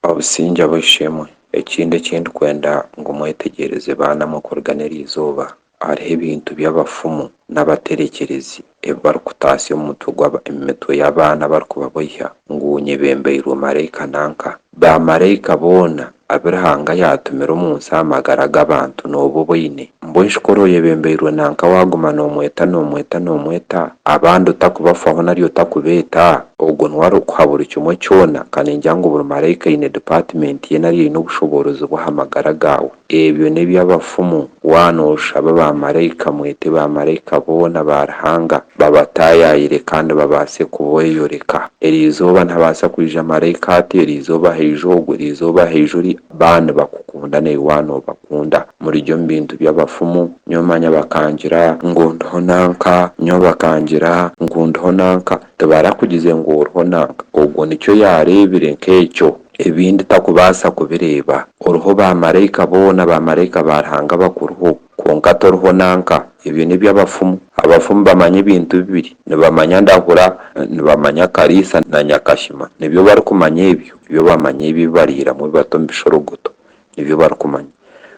Obusingye ab'eishe-emwe, ekindi eki ndikwenda ngu mwetegyereze baanamwe okuruga n'eri izooba, hariho ebintu bi abafumu n'abaterekyerezi ebi barikutaasya omu mutwe gwa omu mitwe y'abaana abarikubaboiha ngu nyebembeirwe maraika nanka. Baamaraika boona abu Ruhanga yaatumire omu nsi aha magara g'abantu nooba obaine? Mbwenu ku oraba oyebembeirwe nanka waaguma noomweta noomweta noomweta, abandi otakubafaho nari otakubeeta? Ogwo niwe arikukuha buri kimwe kyona, kaningira ngu buri maraika aine dipaatimenti ye nari aine obushoboorozi bwe aha magara gaawe. Ebyo n'eby'abafumu. Waaba nooshaba baamaraika, mwete baamaraika boona ba Ruhanga, babataayaayire kandi babaase kubeeyoreka. Erizooba nihabaasa kwija maraika ati, Erizooba haija ogu, erizooba haija ori, Baba nibakukunda naiwe waaba noobakunda. Murigye omu bintu by'abafumu, nyowe manya bakangira ngu ndiho nanka, nyowe bakangira ngu ndiho nanka. Tibarakugize ngu oriho nanka. Ogwo nikyo yaareebire nk'ekyo. Ebindi takubaasa kubireeba. Oriho baamaraika boona, baamaraika ba Ruhanga abakuriho. Kwonka toriho nanka. Ebyo n'eby'abafumu. Abafumu bamanya ebintu bibiri. Nibamanya ndahura, nibamanya kariisa na nyakashima. Nibyo barikumanya ebyo. Nibyo bamanya ebi bariiramu ebi bata omu bishorogoto. Nibyo barikumanya.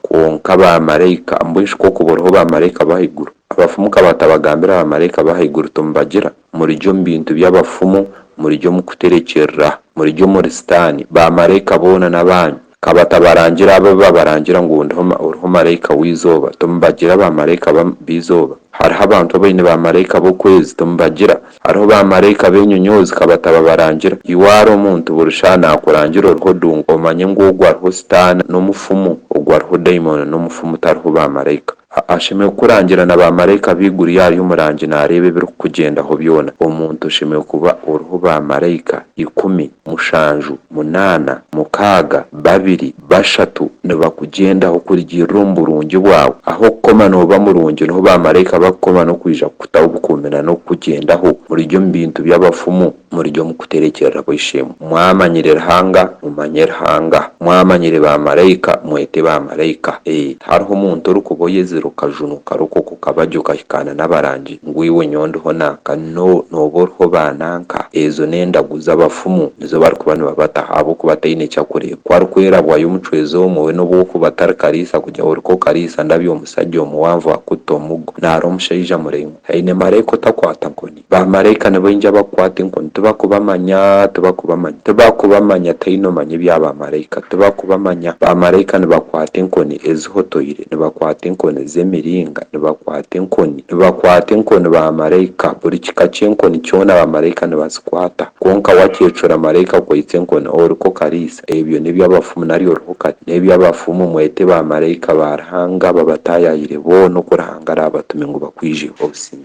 Kwonka baamaraika, mbwenu shi kwokubwo oriho baamaraika b'ahaiguru? Abafumu ka batabagambira baamaraika b'ahaiguru ti mubagira? Murigye omu bintu by'abafumu, murigye omu kuterekyerera. Murigye omuri Sitaani. Baamaraika boona n'abaanyu. Ka batabarangire abo abu babarangira ngu ndiho oriho maraika w'eizooba, timubagira baamaraika b'eizooba? Hariho abantu abaine baamaraika b'okwezi, timubagira? Hariho baamaraika b'enyonyoozi, ka batababarangira? Iwe ara omuntu buri shaaha naakurangira oriho dungu, omanye ngu ogwo ariho Sitaane n'omufumu, ogwo ariho daimooni n'omufumu tariho baamaraika. Ashemereire kukurangira na baamaraika b'eiguru yaaba ari omurangi naareeba ebirikukugyendaho byona. Omuntu oshemereire kuba oriho baamaraika ikumi, mushanju, munaana, mukaaga, babiri, bashatu nibakugyendaho kurugiirira omu burungi bwawe. Ahu okukoma nooba murungi niho baamaraika bakukoma n'okwija kukutaho obukuumi nanokukugyendaho. Murigye omu bintu by'abafumu. murye omu kuterekyerera kwa Ishe-mu. Mwamanyire Ruhanga, mumanye Ruhanga. Mwamanyire baamaraika, mwete baamaraika. Ee, tihariho muntu orikuba oyezire okajunu karukwo okwo kabagye okahikaana n'abarangi, ngu iwe nyowe ndiho nanka. No, nooba oriho baananka. Ezo n'endagu z'abafumu. Nizo barikuba nibabataho, ahabw'okuba ataine eki arikureeba. Ku arikwerabwayo omucwezi omwe, we n'obu orikuba otarikariisa kugye ahu orikokariisa, ndabyo omusagye omuwanvu, akuta omugo. Naara omushaija muraingwa. Aine maraika otakwata nkoni. Baamaraika nibaija bakukwata enkoni. Tibakubamanya, tibakubamanya. Tibakubamanya, tihaihi noomanya ebya baamaraika. Tibakubamanya. Baamaraika nibakwata enkoni ezihotoire, nibakwata enkoni z'emiringa, nibakwata enkoni. Nibakwata enkoni baamaraika. Buri kika ky'enkoni kyona baamaraika nibazikwata. Kwonka wakyecura maraika akwaitse enkoni, oriku okariisa, ebyo n'eby'abafumu nari oriho kati. N'eby'abafumu, mwete baamaraika ba Ruhanga babataayaayire boona oku Ruhanga araabatume ngu bakwijeho obusinge.